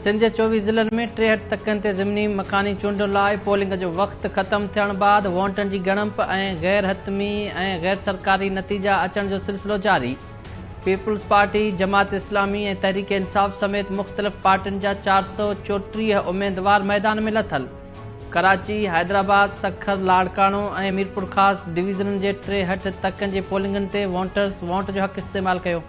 سنڌ جي چوويهه ضلعن ۾ ٽيهٺ تڪن تي ضمني مڪاني چونڊن لاء پولنگ جو وقت ختم ٿيڻ بعد وونٽن جي ڳڻپ ۽ غير حتمي ۽ غير سرڪاري نتيجا اچڻ جو سلسلو جاري پيپلز پارٽي، جماعت اسلامي ۽ تحريڪ انصاف سميت مختلف پارٽين جا چار سؤ چوٽيهه اميدوار ميدان ۾ لٿل. ڪراچي، حيدرآباد، سکر، لاڙڪاڻو ۽ ميرپورخاص ڊويزنن جي ٽيهٺ تڪن جي پولنگن تي وونٽرز وونٽ جو حق استعمال ڪيو.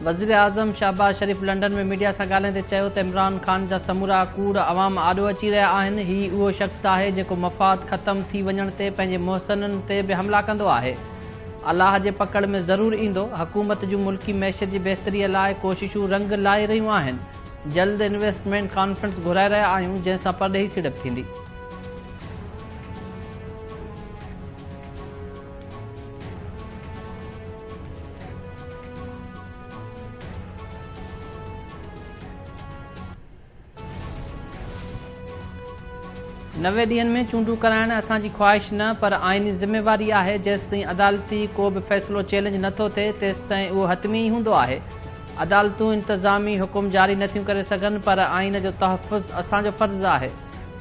وزيراعظم شهباز شريف لنڊن ۾ ميڊيا سان ڳالهائيندي چيو ته عمران خان جا سمورا ڪوڙ عوام آڏو اچي رهيا آهن، هي اهو شخص آهي جيڪو مفاد ختم ٿي وڃڻ تي پنهنجي محسنن تي به حملا ڪندو آهي، الله جي پڪڙ ۾ ضرور ايندو، حڪومت جون ملڪي معيشت جي بهتري لاء ڪوششون رنگ لائي رهيون آهن، جلد انويسٽمينٽ ڪانفرنس گهرائي رهيا آهيون جنهن سان پرڏيهي سيڙپ ٿيندي. نوي ڏينهن ۾ چونڊون ڪرائڻ اسان جي خواهش نه پر آئيني ذميواري آهي جيستائين عدالتي ڪو به فيصلو چئلينج نه ٿو ٿئي تيستائين اهو حتمي ئي هوندو آهي عدالتون انتظامي حڪم جاري نه ٿيون ڪري سگهن پر آئين جو تحفظ اسان جو فرض آهي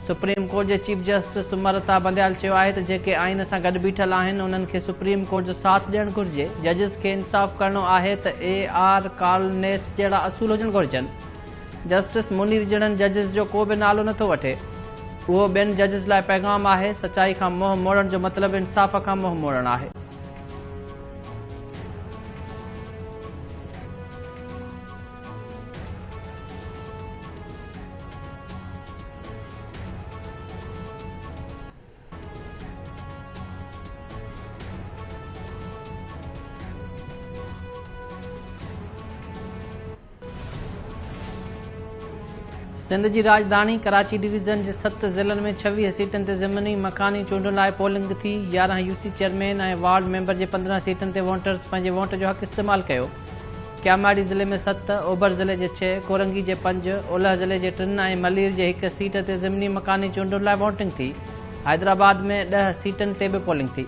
سپريم ڪورٽ جي چيف جسٽس سمرتا بنديال چيو آهي ته جيڪي آئين سان گڏ بيٺل آهن انهن کي سپريم ڪورٽ جو ساٿ ڏيڻ گهرجي، ججز کي انصاف ڪرڻو آهي ته اي آر ڪالنيس جهڙا اصول هجڻ گهرجن، جسٽس منير جهڙن ججز جو ڪو به نالو نٿو وٺي، اهو ٻين ججز لاء پيغام آهي، سچائي کان منهن موڙڻ جو مطلب انصاف کان منهن موڙڻ آهي. سنڌ جي راڄڌاڻي ڪراچي ڊويزن جي ست ضلعن ۾ ڇويهه سيٽن تي ضمني مڪاني چونڊن لاء پولنگ ٿي، يارهن U C chairman ۽ ward member جي پندرهن سيٽن تي وونٽرز پنهنجي وونٽ جو حق استعمال ڪيو. ڪياماڙي ضلعي ۾ ست، اوڀر ضلعي جي ڇهه، ڪورنگي جي پنج، اولهه ضلعي جي ٽن ۽ ملير جي هڪ سيٽ تي ضمني مڪاني چونڊن لاء وونٽنگ ٿي. حيدرآباد ۾ ڏهه سيٽن تي به پولنگ ٿي.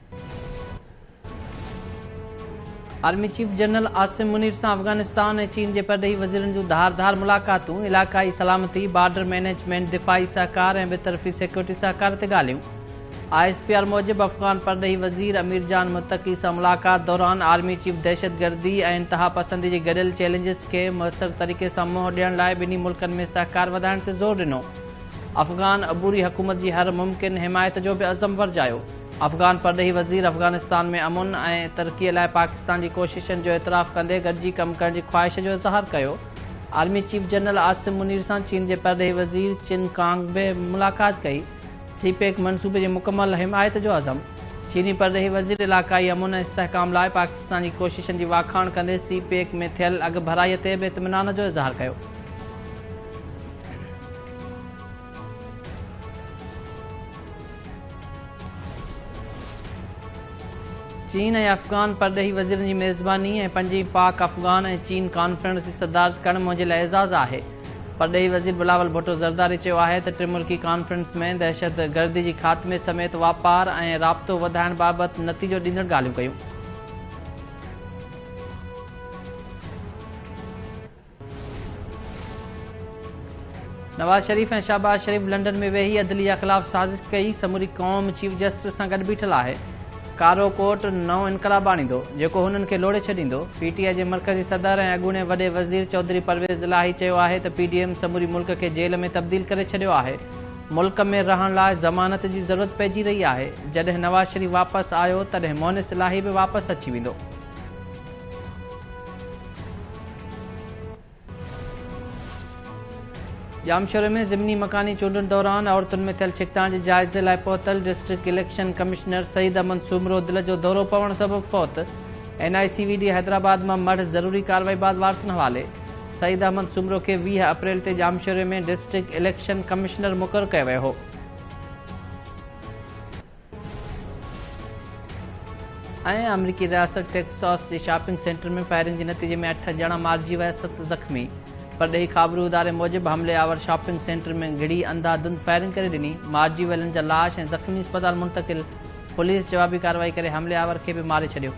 Army chief general Asim Munir سان افغانستان ۽ چين جي پرڏيهي وزيرن جون ڌار ڌار ملاقاتون، علاقائي سلامتي، بارڊر مئنيجمينٽ، دفاعي سهڪار ۽ ٻه طرفي سيڪيورٽي سهڪار تي ڳالهيون. آء ايس پي آر موجب افغان پرڏيهي وزير امير جان متقي سان ملاقات دوران آرمي چيف دهشتگردي ۽ انتهاپسندي جي گڏيل چئلينجز کي موثر طريقي سان منهن ڏيڻ لاء ٻنهي ملڪن ۾ سهڪار وڌائڻ تي زور ڏنو. افغان عبوري حڪومت جي هر ممڪن حمايت جو به عزم ورجايو. افغان پرڏيهي وزير افغانستان ۾ امن ۽ ترقي لاء پاڪستان جي ڪوششن جو اعتراف ڪندي گڏجي ڪم ڪرڻ جي خواهش جو اظهار ڪيو. Army chief general Asim Munir سان چين جي پرڏيهي وزير چن ڪانگ به ملاقات ڪئي. سي پيڪ منصوبي جي مڪمل حمايت جو عزم. چيني پرڏيهي وزير علاقائي امن ۽ استحڪام لاء پاڪستان جي ڪوششن جي واکاڻ ڪندي سي پيڪ ۾ ٿيل اڳڀرائي تي به اطمينان جو اظهار ڪيو. چين ۽ افغان پرڏيهي وزيرن جي ميزباني ۽ پنجين پاڪ، افغان ۽ چين ڪانفرنس جي صدارت ڪرڻ منهنجي لاء اعزاز آهي. پرڏيهي وزير بلاول ڀٽو زرداري چيو آهي ته ٽي ملڪي ڪانفرنس ۾ دهشت گردي جي خاتمي سميت واپار ۽ رابطو وڌائڻ بابت نتيجو ڏيندڙ ڳالهيون ڪيون. نواز شريف ۽ شهباز شريف لنڊن ۾ ويهي عدليه خلاف سازش ڪئي، سموري قوم چيف جسٽس سان گڏ بيٺل آهي، ڪارو ڪوٽ نئون انقلاب آڻيندو، جيڪو هنن کي لوڙهي ڇڏيندو، پي ٽي آء جي مرڪزي صدر ۽ اڳوڻي وڏي وزير چوڌري پرويز الاهي چيو آهي ته پي ڊي ايم سموري ملڪ کي جيل ۾ تبديل ڪري ڇڏيو آهي، ملڪ ۾ رهڻ لاء ضمانت جي ضرورت پئجي رهي آهي، جڏهن نواز شريف واپس آيو تڏهن مونس الاهي به واپس اچي ويندو. ڄامشوري ۾ ضمني مڪاني چونڊن دوران عورتن ۾ ٿيل ڇڪتاڻ جي جائزي لاء پهتل district election commissioner Saeed Ahmed Soomro دل جو دورو پوڻ سبب فوت، N I C V D Hyderabad مان مڙهه ضروري ڪارروائي بعد وارثن حوالي، سعيد احمد سومرو کي ويهه اپريل تي ڄامشوري ۾ ڊسٽرڪٽ اليڪشن ڪمشنر مقرر ڪيو ويو هو. ۽ آمريڪي رياست ٽيڪساس جي شاپنگ سينٽر ۾ فائرنگ جي نتيجي ۾ اٺ ڄڻا مارجي ويا ست زخمي پرڏيهي خابرو اداري موجب حملي آور شاپنگ سينٽر ۾ گهڙي انڌا ڌند فائرنگ ڪري ڏني مارجي ويلن جا لاش ۽ زخمي اسپتال منتقل پوليس جوابي ڪارروائي ڪري حملي آور کي به ماري ڇڏيو